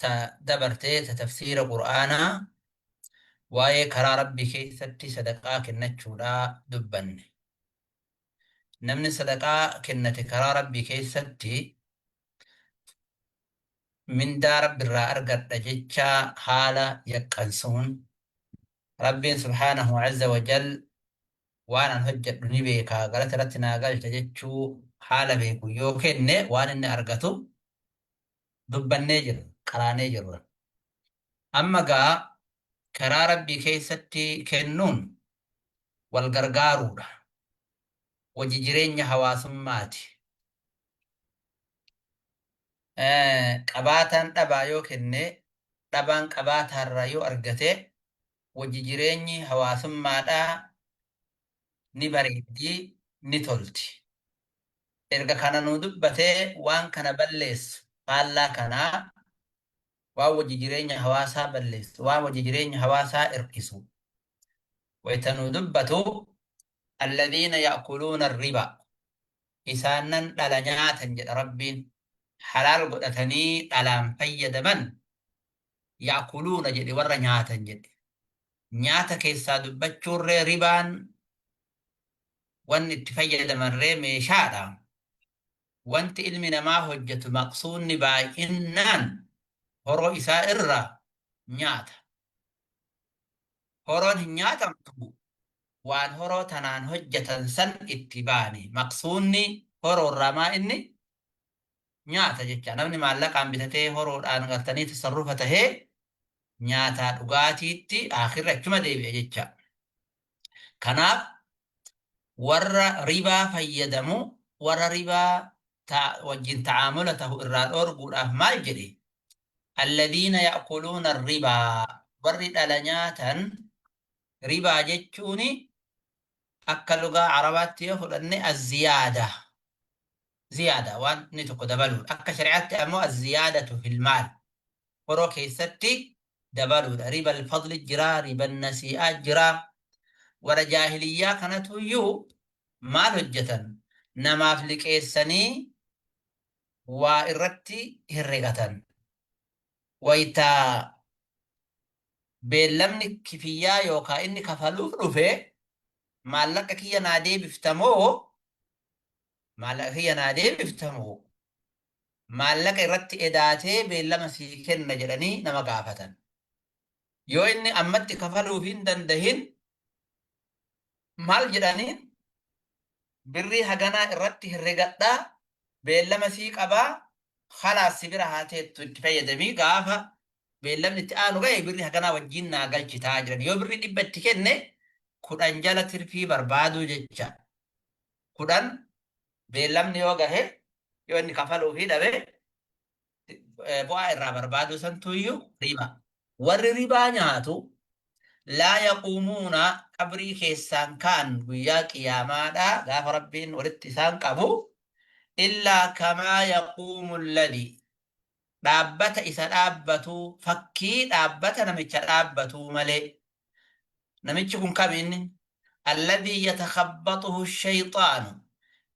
ta dabarte ta tafsiira qur'aanaa waa'ee karaa rabbii keessatti sadaqaa kennachuudhaa dubbanne namni sadaqaa kennate karaa rabbii keessatti mindaa rabbi irraa argadha jechaa haala yaqqansuun rabbiin subhaanahu azza wajal waan an hojjedhu ni beekaa galata irratti naa galcha jechuu haala beeku yoo kenne waan inni argatu dubbannee jirra, qaraanee jirra. Amma egaa karaa Rabbii keessatti kennuun wal gargaaruudha. Hojii jireenya hawaasummaati. Qabaataan dhabaa yoo kenne, dhabaan qabaataarraa yoo argate hojii jireenyi hawaasummaadhaa ni bareeddi, ni tolti. erga kana nuu dubbatee waan kana balleessu faallaa kanaa waan wajji jireenya hawaasaa balleessu waan wajji jireenya hawaasaa irkisu wayta nuu dubbatu alladhiina ya'kuluuna arribaa isaannan dhala nyaatan jedha rabbiin halaal godhatanii dhalaan fayyadaman ya'kuluuna jedhe warra nyaatan jedhe nyaata keessaa dubbachuurree ribaan wanni itti fayyadamarree meeshaadha. Wanti ilmi namaa hojjatu maqsuunni baay'innaan horoo isaa irraa nyaata. Horoon hin nyaatamtu waan horoo tanaan hojjatan san itti baane. Maqsuunni horoorraa maa inni nyaata jecha. Namni maallaqaan bitatee horoodhaan galtanii tasarrufa tahee nyaataa dhugaatiitti aakhirri achuma deebi'a jecha. Kanaaf warra ribaa fayyadamu warra ribaa ta- wajjin ta'aamula tahu irraa dhoorguudhaaf maal jedhe? Alladiina ya'kuluuna ribaa warri dhala nyaatan ribaa jechuun akka lugaa Arabaatti yoo fudhanne azziyaada. Ziyaada waan inni tokko dabaluudha. Akka shari'aatti ammoo azziyaadatu fil maal. Horoo keessatti dabaluudha. Ribal fadli jira, riban nasii'aa jira. Warra jaahiliyyaa kanatu iyyuu maal hojjetan? Namaaf liqeessanii waa irratti herregatan. Wayita beellamni kifiyyaa yookaan inni kafaluuf dhufe maallaqa kiyya naa deebifta moo maallaqa kiyya naa deebifta moo maallaqa irratti edaatee beellama sii kenna jedhanii nama gaafatan. Yoo inni ammatti kafaluuf hin dandahin maal jedhaniin birrii haganaa irratti herregadhaa beellama sii qabaa halaas si bira haa teettu itti fayyadamii gaafa beellamni itti aanu ga'e birri haganaa wajjin naa galchitaa jedhan yoo birri dhibba itti kenne kudhan jala tirfii barbaaduu jecha 10 beellamni yoo gahe yoo inni kafaluu fi dhabe bu'aa irraa barbaaduu santu iyyuu riba. Warri ribaa nyaatu laa yaquumuuna qabrii keessaan ka'an guyyaa qiyaamaadhaa gaafa rabbiin walitti isaan qabu illaa kamaa yaquumu alladhi dhaabbata isa dhaabbatu fakkii dhaabbata namicha dhaabbatuu malee namichi kun kami inni alladhii yatakhabbaxuhu shayxaanu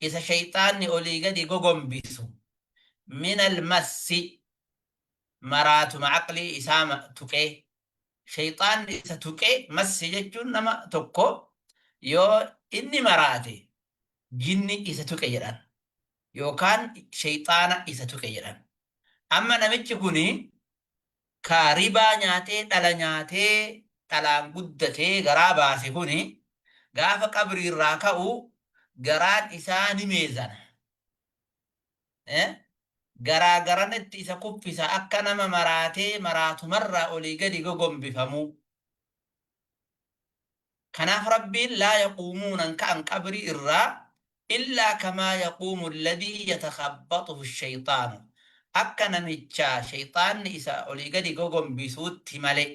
isa shayxaanni olii gadi gogombisu min almassi maraatuma aqlii isaa tuqee shayxaanni isa tuqee massi jechuun nama tokko yoo inni maraate jinni isa tuqe jedhan yookaan shayxaana isa tuqe jedhan amma namichi kuni Kaa ribaa nyaatee dhala nyaatee dhalaan guddatee garaa baase kuni gaafa qabrii irraa ka'u garaan isaa ni meezana. Garaa garanatti isa kuffisa akka nama maraatee maraatumarraa olii gadi gogombifamu. Kanaaf Rabbiin laa yaquumuuna hin ka'an qabrii irraa illaa kamaa yaquumu alladhii yatakhabbaxuhu ash-shayxaanu akka namicha shayxaanni isa olii gadi gogombisuutti malee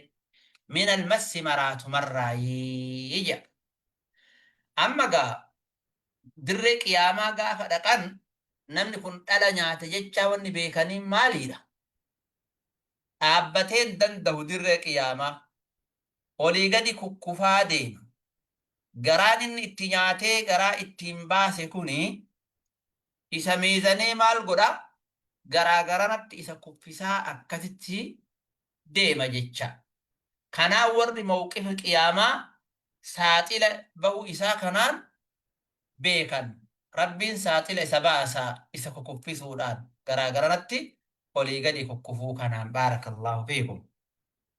min al-massi maraatumarraayii jedha. Amma egaa dirree qiyaamaa gaafa dhaqan namni kun dhala nyaate jechaa wanni beekaniin maaliidha? Dhaabbatee hin dandahu dirree qiyaamaa. olii gadi kukkufaa deema. Garaan inni itti nyaatee garaa ittiin baase kuni isa miizanee maal godha? Garaa garanatti isa kuffisaa akkasitti deema jecha. Kanaan warri mawqifa qiyaamaa saaxila ba'uu isaa kanaan beekan. Rabbiin saaxila isa baasa isa kukuffisuudhaan garaa garanatti olii gadi kukkufuu kanaan. Baarakallaahu fiikum.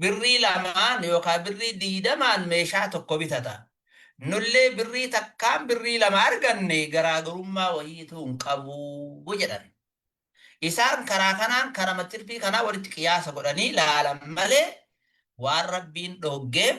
Birrii lamaan yookaa birrii digdamaan meeshaa tokko bitata. Nullee birrii takkaan birrii lama arganne garaagarummaa wayiituu hin qabu jedhan. Isaan karaa kanaan karama tirfii kanaa walitti qiyaasa godhanii laalan malee waan Rabbiin dhooggeef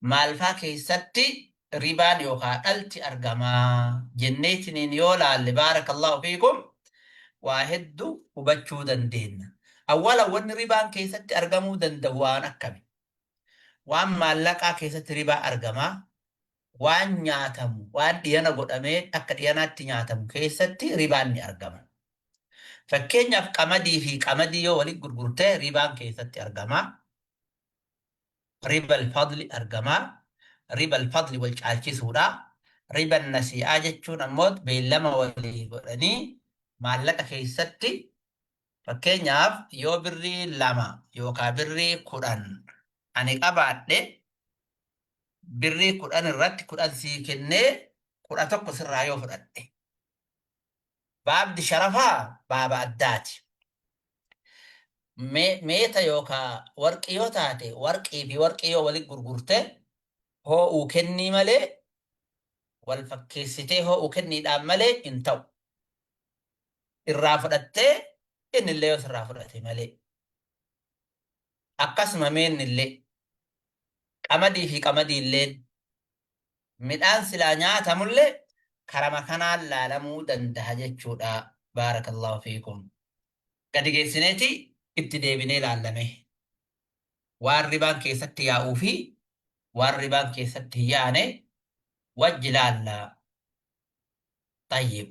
maalfaa keessatti ribaan yookaa dhalti argamaa jenneetiniin yoo laalle baarakallahu fiikum waa heddu hubachuu dandeenna. Awwala wanni ribaan keessatti argamuu danda'u waan akkami? Waan maallaqaa keessatti ribaa argamaa waan nyaatamu waan dhiyana godhamee akka dhiyanaatti nyaatamu keessatti ribaan ni argama. Fakkeenyaaf qamadii fi qamadii yoo walitti gurgurte ribaan keessatti argamaa. Ribal fadli argamaa, ribal fadli wal caalchisuudha. Riban nasii'aa jechuun ammoot beellama walii godhanii maallaqa keessatti fakkeenyaaf yoo birrii lama yookaa birrii kudhan ani qabaadhe birrii kudhan irratti kudhan sii kennee kudha tokko sirraa yoo fudhadhe. Baabdi sharafaa baaba addaati. Me- Meeta yookaan warqii yoo taate warqii fi warqii yoo walitti gurgurte hoo'uu kennii malee wal fakkeessitee hoo'uu kenniidhaan malee hin ta'u. Irraa fudhattee inni illee yoo sirraa fudhate malee. Akkasuma meenni illee qamadii fi qamadii illee midhaan silaa nyaatamulle karama kanaan laalamuu dandaha jechuudha baarakallahu fiikum gadi geessineeti itti deebinee laallame waan ribaan keessatti yaa'uu fi waan ribaan keessatti hin yaane wajji laalla tayyib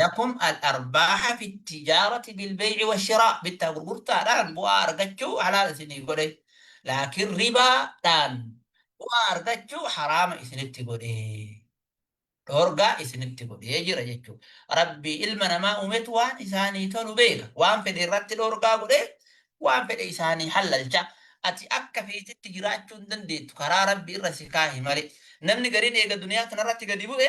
Lakum al-arbaaha fi tijaarati bil-bey'i wash-shiraa, bittaa gurgurtaadhaan bu'aa argachuu halaal isinii godhe, laakiin ribaa dhaan bu'aa argachuu haraama isinitti godhe, dhoorgaa isinitti godhee jira jechuu dha. Rabbii ilma namaa uumetu waan isaanii tolu beeka, waan fedhe irratti dhoorgaa godhee waan fedhe isaanii hallalcha. Ati akka feetetti jiraachuu hin dandeettu, karaa Rabbi irra si kaahe malee. Namni gariin eega duniyaa tana irratti gadi bu'e,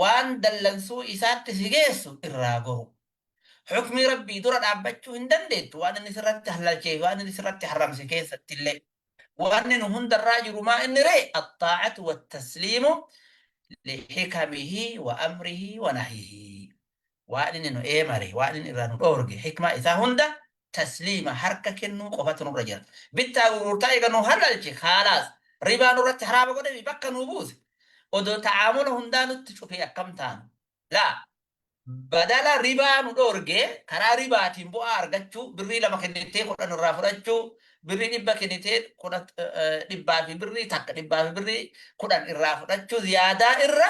waan dallansuu isaatti si geessu irraa goru. Hukmii Rabbii dura dhaabbachuu hin dandeettu waan inni sirratti hallalchee fi waan inni sirratti harramse keessatti illee. Wanni nu hundarraa jiru maa inni ree axxaacatu wattasliimu lixikamihi wa amrihi wa nahihi. waan inni nu eemare, waan inni irraa nu dhoorge, hikmaa isaa hunda tasliima, harka kennuu, qofatu nurra jira. Bittaa gurgurtaa eega nu halalche khaalaas, ribaa nurratti haraama godhe fi bakka nuu buuse, odoo ta'aamula hundaa nutti cufee akkam taana? Laa! Badala ribaa nu dhoorgee, karaa ribaatiin bu'aa argachuu, birrii lama kennitee kudhan irraa fudhachuu, birrii dhibba kennitee kudha, dhibbaa fi birrii takka, dhibbaa fi birrii kudhan irraa fudhachuu ziyaadaa irra,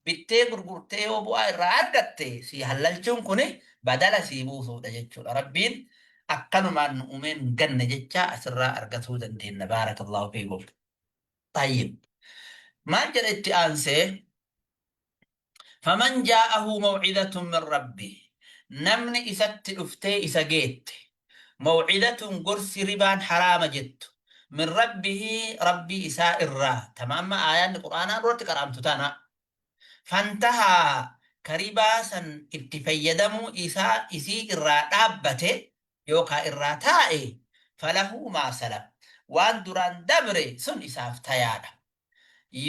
bittee gurgurtee yoo bu'aa irraa argatte sii hallalchuun kuni badala sii buusuudha jechuudha rabbiin akkanumaan nu umee nun ganne jechaa asirraa argatuu dandeenna baarakallahu fiikum tayyib maal jedha itti aansee faman jaa'ahu maw'izatun min rabbi namni isatti dhuftee isa geette maw'idatun gorsi ribaan haraama jettu min rabbihi rabbii isaa irraa tama amma aayaanni qur'aanaa duratti qara'amtu tana fantahaa ka ribaa san itti fayyadamuu isaa isii irraa dhaabbate yookaa irraa taa'e falahu maa salaf waan duraan dabre sun isaaf tayaadha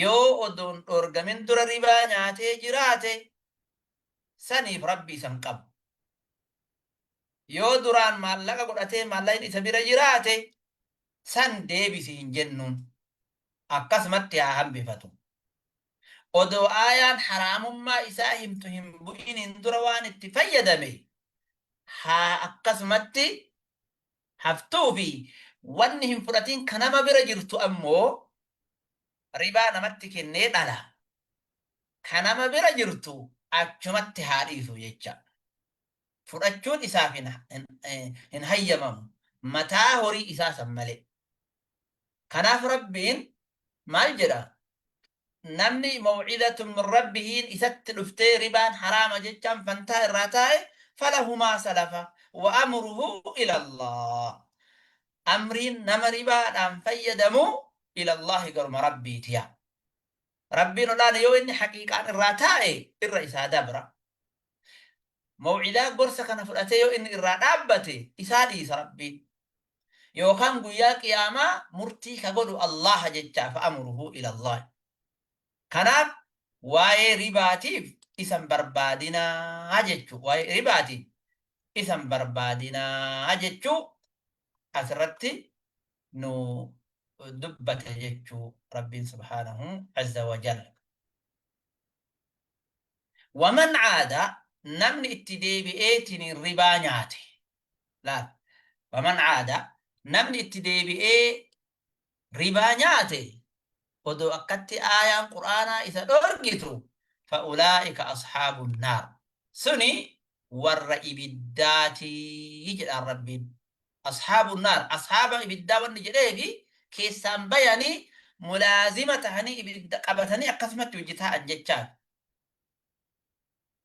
yoo odoon dhoorgamin dura ribaa nyaatee jiraate saniif rabbi isan qabu Yoo duraan maallaqa godhatee maallaqni isa bira jiraate san deebisi hin jennuun. Akkasumatti haa hambifatu. Odoo aayaan haraamummaa isaa himtu hin bu'iniin dura waan itti fayyadame haa akkasumatti haftuu fi wanni hin fudhatiin ka nama bira jirtu ammoo ribaa namatti kennee dhala. ka nama bira jirtu achumatti haa dhiisu jecha. Fudhachuun isaaf hin, hin, hin hayyamamu. Mataa horii isaa san malee. Kanaaf Rabbiin maal jedha? Namni maw'izatun min Rabbihiin isatti dhuftee ribaan haraama jechaan fantaa irraa taa'e falahumaa salafa wa amruhu ilallah. Amriin nama ribaadhaan fayyadamu ilallahi garuma Rabbiitiya. Rabbiin ol'aana yoo inni haqiiqaan irraa taa'e irra isaa dabra. Maw'idaa gorsa kana fudhatee yoo inni irraa dhaabbate isaa dhiisa Rabbiin. Yookaan guyyaa qiyaamaa murtii ka godhu Allaaha jechaa fa'amuruhu ilallaahi. Kanaaf waa'ee ribaatiif isan barbaadinaa jechuu waa'ee ribaatiin isan barbaadinaa jechuu asirratti nu dubbate jechuu rabbiin subhaanahu azza wa jalla waman caada namni itti deebi'eetiin ribaa nyaate laal waman caada namni itti deebi'ee ribaa nyaate odoo akkatti aayaan qur'aanaa isa dhorgitu fa'ulaa'ika ashaabun naar suni warra ibiddaatii jedhaan rabbiin ashaabun naar ashaaba ibiddaa wanni jedheefi keessaan bayanii mulaazima tahanii ibidda qabatanii akkasumatti hojjetaa an jechaan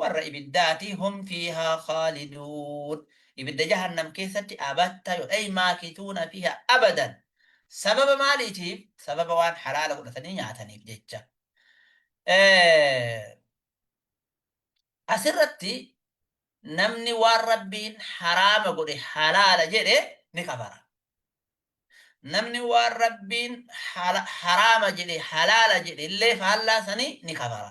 warra ibiddaati hum fiihaa khaaliduun ibidda jahannam keessatti abatta yo ay maakituuna fiiha abadan sababa maaliitiif sababa waan halaala godhatanii nyaataniif jecha asirratti namni waan rabbiin haraama godhe halaala jedhe ni kafara namni waan rabbiin haraama jedhe halaala jedhe illee faallaa sanii ni kafara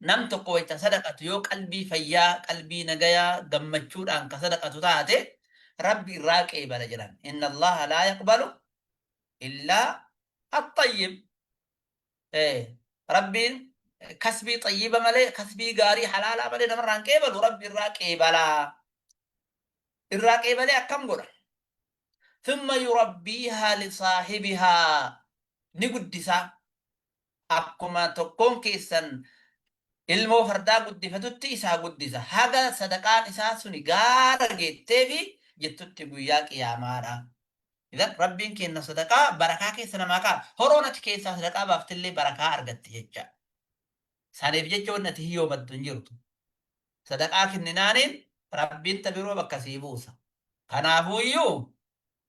Nam tokko wayta sadaqatu yoo qalbii fayyaa, qalbii nagayaa, gammachuudhaan ka sadaqatu taate Rabbi irraa qeebala jedhan. Inna Allaaha laa yaqbalu illaa axxayyib. Ee, Rabbiin kasbii xayyiba malee, kasbii gaarii halaalaa malee namarraa hin qeebalu, Rabbi irraa qeebala. Irraa qeebalee akkam godha? Thumma yurabbiihaa lisaahibihaa. Ni guddisaa. Akkuma tokkoon keessan ilmoo fardaa guddifatutti isa haa guddisa, haga sadaqaan isaa suni gaara geetteefi jettutti guyyaa qiyaamaadha. Idan Rabbiin keenna sadaqaa barakaa keessa namaa kaa'a. Horoon ati keessaa sadaqaa baaftillee barakaa argatti jecha. Saniif jecha wanni ati hiyyoomattu hin jirtu. Sadaqaa kenninaaniin Rabbiin ta biroo bakka sii buusa. Kanaafuuyyuu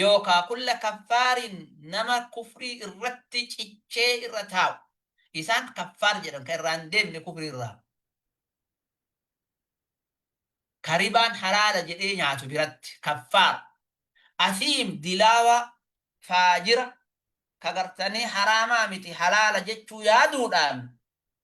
yookaa kulla kaffaarin nama kufrii irratti cichee irra taa'u isaan kaffaar jedhan ka irraa hin deebine kufrii irraa ka ribaan halaala jedhee nyaatu biratti kaffaar asiim dilaawa faajira ka gartanii haraamaa miti halaala jechuu yaaduudhaan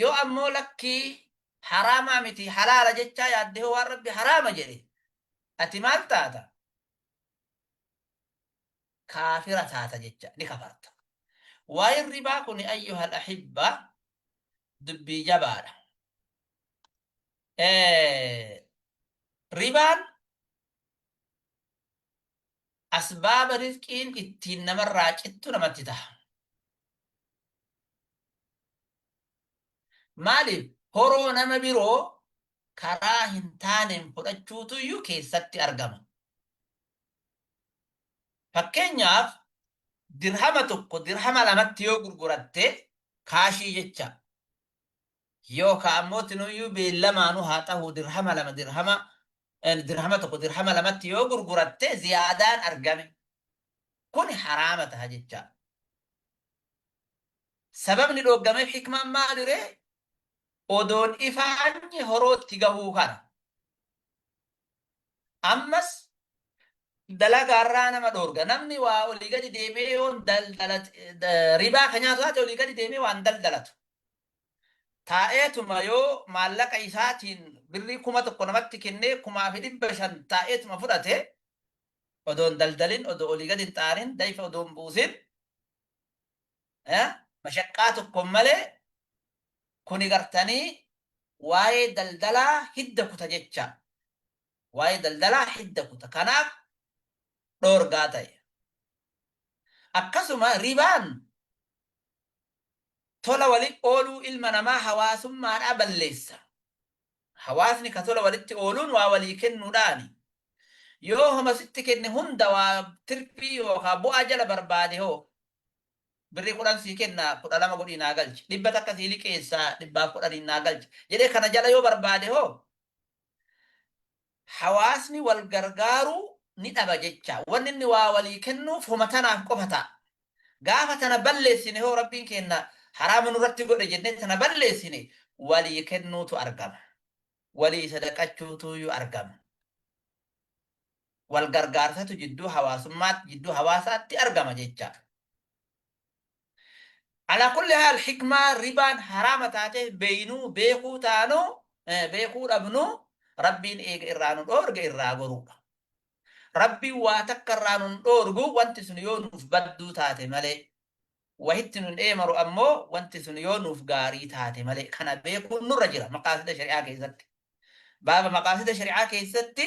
Yoo ammoo lakkii haraamaa miti halaala jechaa yaadde hoo waan Rabbi haraama jedhe ati maal taata? Kaafira taata jecha ni kafarta. Waa'een ribaa kun ayyuhal ahibba dubbii jabaadha. Ribaan asbaaba rizqiin ittiin namarraa cittu namatti taha. Maaliif horoo nama biroo karaa hin taaneen fudhachuutu iyyuu keessatti argama. Fakkeenyaaf dirhama tokko dirhama lamatti yoo gurguratte kaashii jecha Yoo ka ammoo tinuyyuu beellamaanuu haa tahuu dirhama lama dirhama en, dirhama tokko dirhama lamatti yoo gurguratte ziyaadaan argame kuni haraama taha jechaa. Sababni dhooggameef hikmaan maaliree odoon ifaanyi horootti gahuu kana. Ammas dalagaarraa nama dhoorga. Namni waa olii gadi deemee yoon daldalate ribaa ka nyaatu taate olii gadi deemee waan daldalatu. taa'eetuma yoo maallaqa isaatiin birrii kuma tokko namatti kennee kumaa fi dhibba shan taa'eetuma fudhate odoo hin daldalin odoo olii gadi hin xaarin dayfa odoo hin buusin mashaqqaa tokko malee kuni gartanii waa'ee daldalaa hidda kuta jecha waa'ee daldalaa hidda kuta kanaaf dhoorgaa ta'e akkasuma ribaan tola walitti ooluu ilma namaa hawaasummaadhaa balleessa. Hawaasni ka tola walitti ooluun waa walii kennuudhaani. Yoo homa sitti kenne hunda waa tirfii yookaa bu'aa jala barbaade hoo? Birrii kudhan sii kenna, kudha lama godhii naa galchi. Dhibba takka sii liqeessa, dhibbaaf kudhaniin naa galchi. jedhee kana jala yoo barbaade hoo? hawaasni wal gargaaruu ni dhaba jecha. Wanni inni waa walii kennuuf homa tanaaf qofa ta'a. Gaafa tana balleessine hoo Rabbiin keenna haraama nurratti godhe jennee tana balleessine walii kennuutu argama. Walii sadaqachuutuuyyu argama. Wal gargaarsatu jidduu hawaasummaa jidduu hawaasaatti argama jecha. Alaa kulli haal hikmaa ribaan haraama taateef beeynuu, beekuu taanuu, beekuu dhabnuu Rabbiin eega irraa nu dhoorge irraa goruudha. Rabbiin waa takka irraa nun dhoorgu wanti sun yoo nuuf badduu taate malee. Wahitti nun eeymaru ammoo wanti sun yoo nuuf gaarii taate malee. Kana beekuun nurra jira maqaasida shari'aa keeysatti. Baaba maqaasida shari'aa keeysatti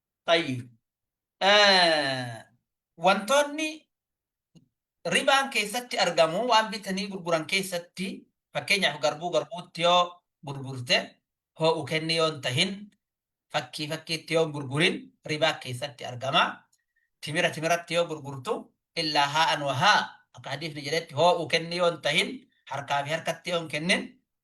Tayyib. Wantoonni ribaan keessatti argamu waan bitanii gurguran keessatti fakkeenyaaf garbuu garbuutti yoo gurgurte hoo'u kenni yoo hin tahin fakkii fakkiitti yoo hin gurgurin ribaa keessatti argama. Timira timiratti yoo gurgurtu illaa haa'an wahaa akka hadiifni jedhetti hoo'u kenni yoo hin tahin harkaa fi harkatti yoo hin kennin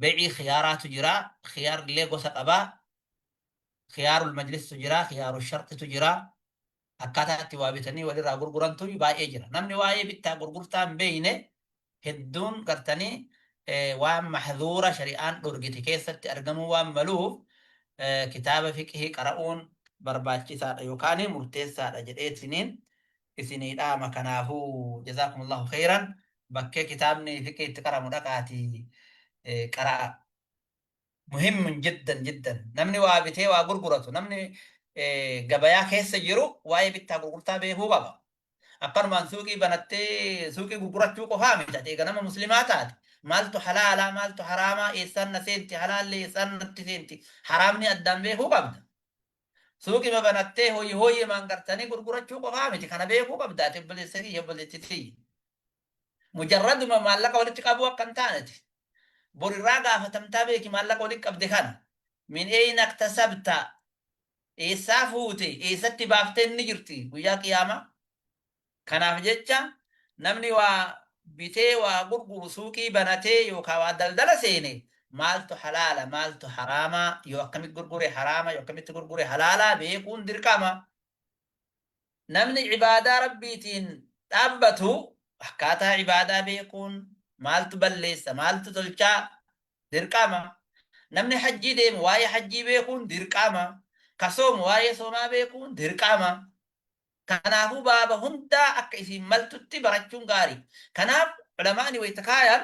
Be'ii khiyaaraatu jira. Khiyaarrillee gosa qaba. Khiyaarul majlis'tu jira, khiyaarul sharxitu jira. Akkaataa itti waa bitanii walirraa gurgurantu baay'ee jira. Namni waa'ee bittaa gurgurtaa hin beekne hedduun gartanii eh, waan mahzuura shari'aan dhorgite keessatti argamuu waan maluuf eh, kitaaba fiqhii qara'uun barbaachisaadha yookaan murteessaadha jedheetiniin isinii dhaama kanaafuu jazaakumullahu khayran bakkee kitaabni fiqii itti qaramu dhaqaati qara'a muhimmun jiddan jiddan namni waa bitee waa gurguratu namni gabayaa keessa jiru waa'ee bittaa gurgurtaa beekuu qaba akkanumaan suuqii banattee suuqii gurgurachuu qofaa miti ati eega nama muslimaa taate maaltu halaalaa maaltu haraamaa eessaan na seenti halaalli eessaan natti seenti haraamni addaan beekuu qabda Suuqima banattee hoyi hoyimaan gartanii gurgurachuu qofaa miti kana beekuu qabda ati obboleessa kiyya obboleetti tiyya. Mujarraduma maallaqa walitti qabuu akka hin taaneti. Bor irraa gaafatamtaa beeki maallaqa walitti qabde kana. Min eeyna iktasabta eessaa fuute eessatti baaftee inni jirti guyyaa qiyaamaa. Kanaaf jecha namni waa bitee waa gurguru suuqii banatee yookaan waa daldala seene maaltu halaala maaltu haraama yoo akkamitti gurgure haraama yoo akkamitti gurgure halaala beekuun dirqama. Namni ibaadaa rabbiitiin dhaabbatu akkaataa ibaadaa beekuun maaltu balleessa maaltu tolchaa dirqama. Namni hajjii deemu waa'ee hajjii beekuun dirqama. Ka soomu waa'ee soomaa beekuun dirqama. Kanaafuu baaba hundaa akka isiin maltutti barachuun gaari. Kanaaf Ulamaa'ni wayta kaayan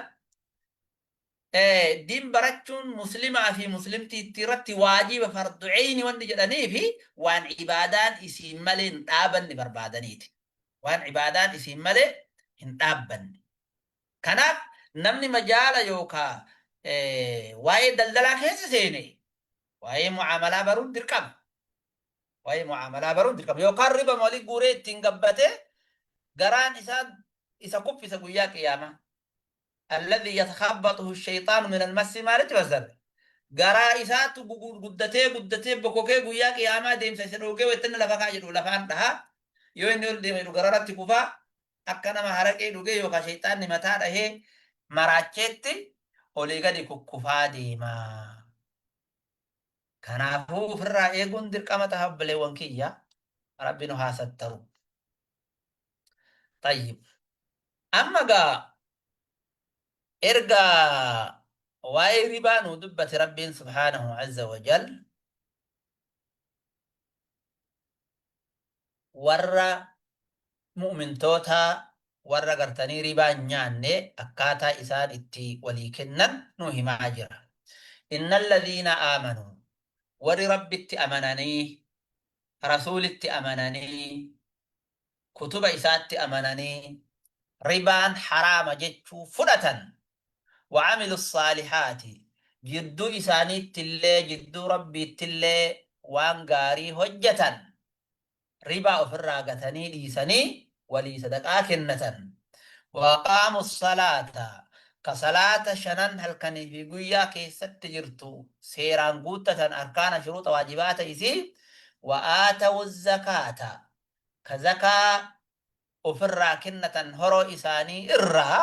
diin barachuun muslimaa fi muslimtiitti irratti waajiba fardu eyni wanni jedhaniifi waan ibaadaan isiin malee hin dhaabanne barbaadaniiti. Waan ibaadaan isiin malee hin dhaabbanne. Kanaaf namni majaala yookaa waa'ee daldalaa keessa seene waa'ee mu'aamalaa baruun dirqama. Waa'ee mu'aamalaa baruun dirqama. Yookaan riba walii guuree ittiin gabbatee garaan isaa isa kuffisa guyyaa qiyaamaa. Alladhi yatakhabbatuhu shayxaanu min almassi maalitti fassara? Garaa isaatu guddatee guddatee bokokee guyyaa qiyaamaa deemsa isa dhoogee wayittanni lafa kaa jedhu lafaan dhaha. Yoo inni ol deeme jedhu gararratti kufaa akka nama haraqee dhugee yookaan shayxaanni mataa dhahee maraacheetti olii gadi kukkufaa deemaa. Kanaafuu ofirraa eeguun dirqama taha obboleewwan kiyya rabbi nu haa sattaru. Tayyib. Amma gaa erga waa'ee ribaa nu dubbate rabbiin subhaanahu azza wa jal warra mu'umintootaa warra gartanii ribaa hin nyaanne akkaataa isaan itti walii kennan nu himaa jira. Inna alladhiina aamanu warri rabbitti amananii rasuulitti amananii kutuba isaatti amananii ribaan haraama jechuu fudhatan wa'amilu saalihaati jidduu isaaniittillee jidduu rabbiittillee waan gaarii hojjatan ribaa ofirraa gatanii dhiisanii walii sadaqaa kennatan waaqaamu salaata ka salaata shanan halkanii fi guyyaa keessatti jirtu seeraan guuttatan arkaana shuruuxa waajibaata isii wa'aatawu zakaata ka zakaa ofirraa kennatan horoo isaanii irraa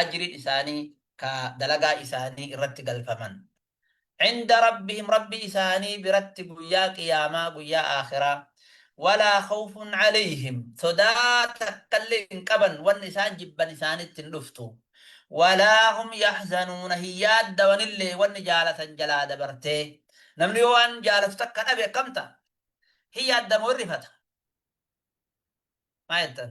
ajriin isaanii ka dalagaa isaanii irratti galfaman. cinda rabbihim rabbi isaanii biratti guyyaa qiyaamaa guyyaa aakhiraa walaa khawfun calayhim sodaa takkallee hin qaban wanni isaan jibban isaanitti hin dhuftu walaa hum yaxzanuuna hin yaaddawanillee wanni jaalatan jalaa dabartee namni yoo waan jaalatu takka dhabe akkam ta'a hin yaaddamoo hin rifata maa jettan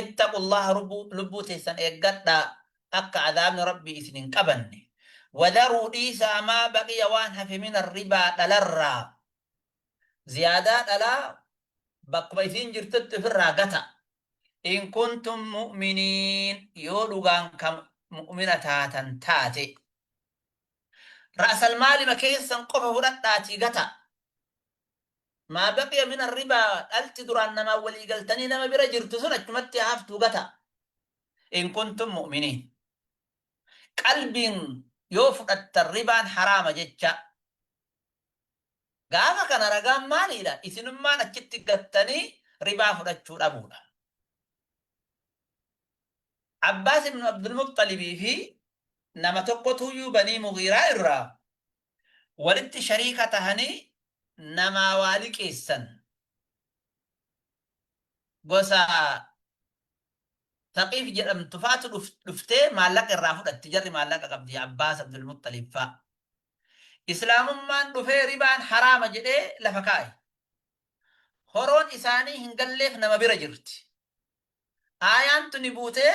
ittaqu Allaha rubbuu lubbuu teessan eeggadhaa akka azaabni Rabbii isin hin qabanne wadharuu dhiisaa maa baqiya waan hafe mina ribaa dhalarraa ziyaadaa dhalaa bakkuma isiin jirtutti ofirraa gata in kuntum mu'miniin yoo dhugaan kan mu'mina taatan taate ra'asalmaalima keessan qofa fudhadhaatii gata Maa baqiya min arribaa dhalti duraan namaan walii galtanii nama bira jirtu sun achumatti haa haftuu gataa. In kuntum mu'miniin. Qalbiin yoo fudhattan ribaan haraama jechaa. Gaafa kana ragaan maaliidha? Isinummaan achitti gattanii ribaa fudhachuu dhabuudha. Abbaas ibnu Abdulmuxxalibii fi nama tokkotuyyuu banii Mughiiraa irraa walitti shariika tahanii namaa waa liqeessan. Gosa Thaqiif jedhamtu faatu dhuftee maallaqa irraa fudhatti, jarri maallaqa qabdi, Abbaas, Abdul Muxxalib faa. Islaamummaan dhufee ribaan haraama jedhee lafa kaaye. Horoon isaanii hin galleef nama bira jirti. Aayaan tuni buutee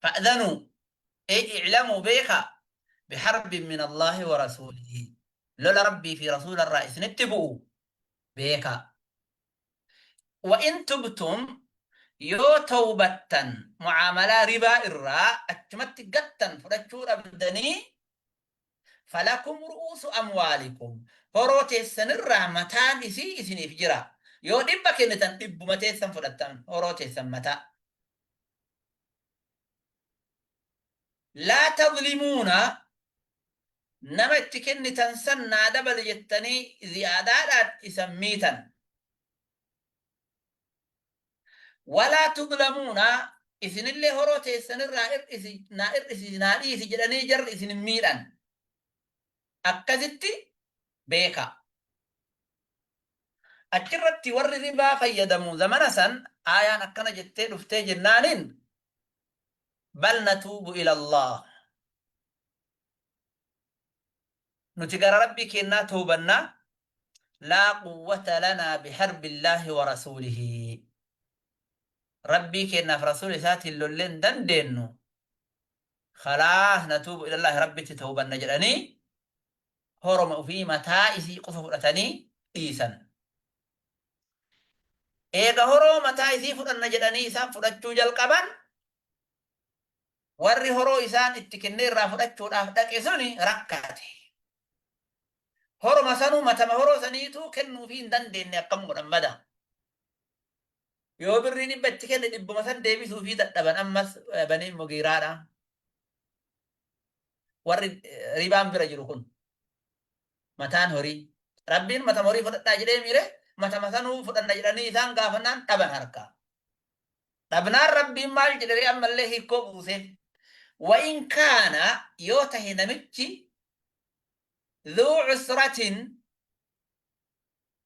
Fa'dhanuu, Ay i'lamuu beekaa, biharbin min Allaahi wa rasuulihi, lola Rabbii fi Rasuula irraa isinitti bu'u beekaa. Wa in tubtum, Yoo tawbattan, mu'aamalaa ribaa irraa achumatti gattan, fudhachuu dhabdanii, falakum ru'uusu amwaalikum, horoo teessan irraa mataan isii isiniif jira. Yoo dhibba kennitan dhibbuma teessan fudhattan, horoo teessan mataa. Laa tazlimuuna nama itti kennitan san naa dabali jettanii ziyaadaadhaan isan miitan. Walaa tuzlamuuna isinillee horoo teessan irraa ir'isi naa ir'isi naa dhiisi jedhanii jarri isin hin miidhan. Akkasitti beekaa. Achirratti warri ribaa fayyadamu zamana san aayaan akkana jettee dhuftee jennaaniin bal natuubu ilallaah nuti gara rabbii keennaa toobannaa laa quwwata lanaa biharbillaahi wa rasuulihi rabbii keennaaf rasuula isaatiin lollee hin dandeennu khalaas natuubu ilallaahi rabbitti toobanna jedhanii horoma ufii mataa isii qofa fudhatanii dhiisan. Eega horoo mataa isii fudhanna jedhanii isaan fudhachuu jalqaban, warri horoo isaan itti kennee irraa fudhachuudhaaf dhaqe suni rakkate. Horoma sanuu matama horoo saniituu kennuufii hin dandeenne akkam godhan bada. Yoo birrii dhibba itti kenne dhibbuma san deebisuufii dadhaban ammas Baniin Mugiiraadha. warri ribaan bira jiru kun mataan horii rabbiin mata horii fudhadhaa jedhee miire mata matanuu fudhanna jedhanii isaan gaafannaan dhaban harkaa dhabnaan rabbiin maal jedhee ammallee hiikkoo buusee wa'in kaana yoo tahe namichi dhuu cusratin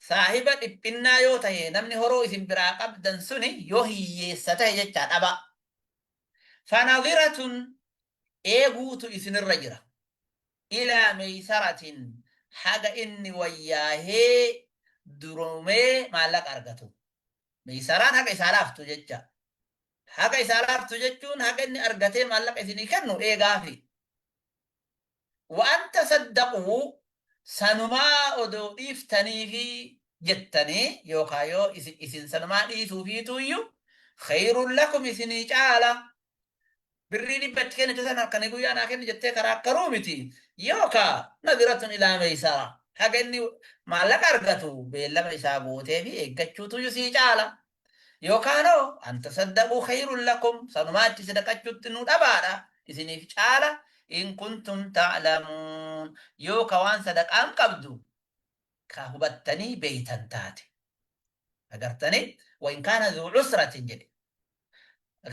Saahiba dhiphinnaa yoo tahe namni horoo isin biraa qabdan suni yoo hiyyeessa tahe jechaa dhabaa. Fanadhiratun eeguutu isinirra jira. Ilaa meysaratin haga inni wayyaahee duroomee maallaqa argatu. Meysaraan haga isaa laaftu jechaa. Haga isaa laaftu jechuun haga inni argatee maallaqa isinii kennu eegaafii. waan tasaddaqu sanumaa odoo dhiiftaniifi jettanii yookaa yoo isin sanumaa dhiisuufiituuyyu khayrun lakum isinii caala birrii dhibba itti kennite san halkanii guyyaa naa kenni jettee karaakkaruu miti yookaa nadiratun ilaa meeysara haga inni maallaqa argatu beellama isaa gooteefi eeggachuutuuyyu sii caala Yookaanoo an tasaddaquu khayrun lakum sanumaa itti sadaqachuutti nu dhabaadha isiniif caala in kuntum ta'lamuun yoo ka waan sadaqaan qabdu ka hubattanii beeytan taate agartanii wa in kaana dhuu cusratin jedhe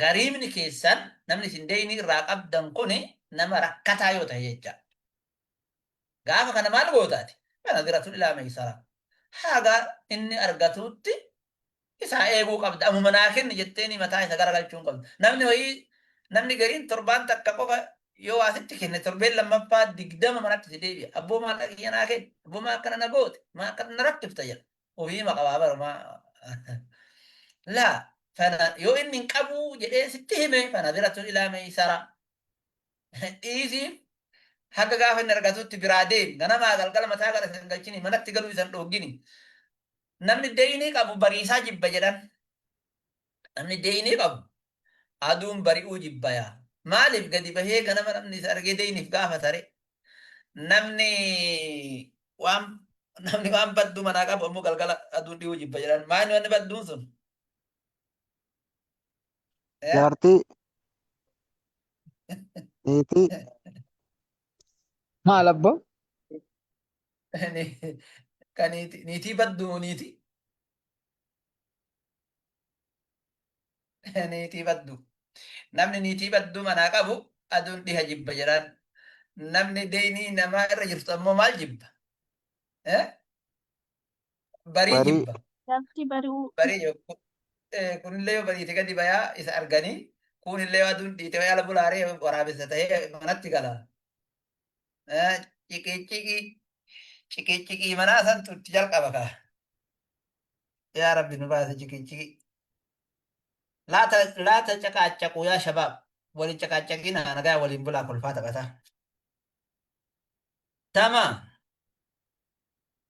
gariibni keessan namni isin deeynii irraa qabdan kuni nama rakkataa yoo ta'e jecha Gaafa kana maal goota ati? Fanaziratun ilaa maysaraa. Haga inni argatuutti isaa eeguu qabda. Amuma naa kenni jetteeni mataa isa garagalchuun qabda. Namni wayii namni gariin torbaan takka qofa yoo waa sitti kenne torbeen lammaffaa digdama manatti si deebi'a. Abboo maallaqa kiyya naa kenni. Abboo maa akkana na goote? Maa akkana na rakkifta jedha. Ofiima qabaa bara maa. Laa fana yoo inni hin qabuu jedhee sitti hime fanaziratun ilaa maysaraa. Dhiisii haga gaafa inni argatutti biraa deemi. Ganamaa galgala mataa gara isa hin galchini. Manatti galuu isa hin dhooggini. Namni deeynii qabu bariisaa jibba jedhan. Namni deeynii qabu aduun bari'uu jibba yaa. Maaliif gadi bahee ganama namni isa argee deeyniif gaafata ree? Namni waan namni waan badduu manaa qabu ammoo galgala aduun dhiyuu jibba jedhan. Maayni wanni badduun sun? Eh? Jaartii. Niitii. Maal abboo? Ni- ka niiti- niitii baddu moo niitii? Niitii baddu. Namni niitii baddu manaa qabu aduun dhiha jibba jedhaan. Namni deynii namaa irra jirtu ammoo maal jibba? Eh? barii Barii. jibba. Lafti bari'uu Barii yoo kun- eh, kunillee yoo bariite gadi bayaa isa arganii kuunillee yoo aduun dhiite wayaa labu laaree waraabessa ta'ee manatti gala. Eh, Ciqiiciqii ciqiiciqii manaa santu itti jalqaba kaa. Yaa Rabbi nu baase ciqiiciqii. Laata laata caqaacaquu yaa shabaab waliin caqaacaqii na nagaa waliin bulaa kolfaa taphataa. Tama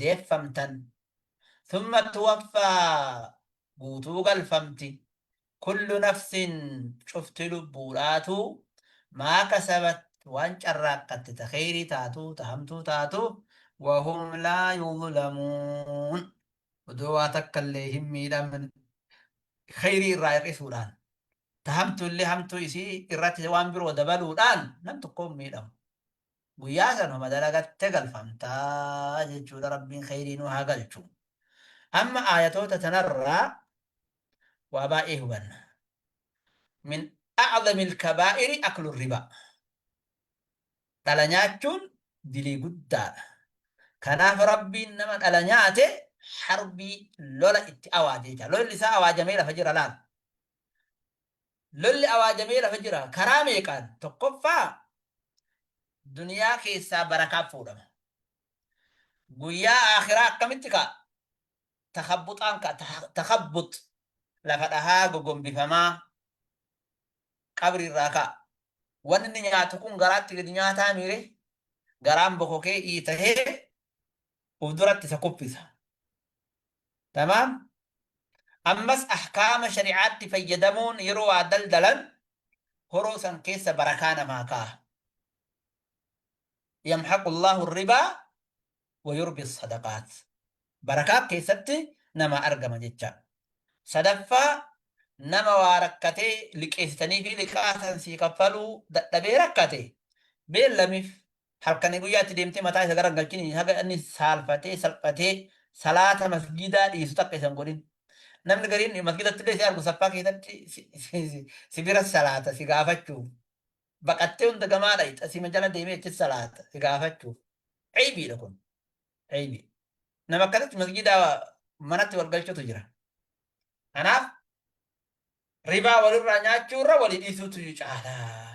deeffamtan thumma tuwaffaa guutuu galfamti kullu nafsin cufti lubbuudhaatuu maa kasabat waan carraaqqatte ta kheyrii taatu ta hamtuu taatu wahum laa yuzlamuun odoo waa takka illee hin miidhamin kheyrii irraa hir'isuudhaan ta hamtu illee hamtuu isii irratti waan biroo dabaluudhaan nam tokkoon miidhamu Guyyaa san homa dalagatte galfamta jechuudha rabbiin kheyrii nu haa galchu. Amma aayatoota tanarraa waa baay'ee hubanna. Min a'zamil kabaa'iri aklu ribaa. Dhala nyaachuun dilii guddaadha. Kanaaf rabbiin nama dhala nyaate harbii lola itti awaaje jecha. Lolli isaa awaajamee lafa jira laal. Lolli awaajamee lafa jira. Karaa meeqaan? Tokkoffaa duniyaa keessaa barakaan fuudhama. Guyyaa aakhiraa akkamitti ka'a? Takabbuxaan ka'a. Ta- Takabbux lafa dhahaa gogombifamaa qabriirraa ka'a. Wanni inni nyaatu kun garaatti gadi nyaataa miire garaan bokokee iitahee uf duratti isa kuffisa. Tamaam? Ammas ahkaama shari'aatti fayyadamuun yeroo waa daldalan horoo san keessa barakaa namaa kaaha. Yamhaqu Allaahu ribaa wa yurbi sadaqaat. Barakaa keessatti namaa argama jecha. Sadaffaa nama waa rakkatee liqeessitanii fi liqaa san sii kaffaluu dadhabee rakkate beellamiif halkanii guyyaa itti deemtee mataa isa garagalchini haga inni saalfatee salphatee salaata masjiidaa dhiisu takka isan godhin namni gariin masjiidatti illee si argu saffaa keessatti si- si- si- si bira salaata si gaafachuuf baqattee hunda gamaa dhayxa sima jala deemee achi salaata si gaafachuuf aybiidha kun aybii nama akkasitti masjiidaa manatti wal galchutu jira kanaaf ribaa walirraa nyaachuurra walii dhiisuutu caalaa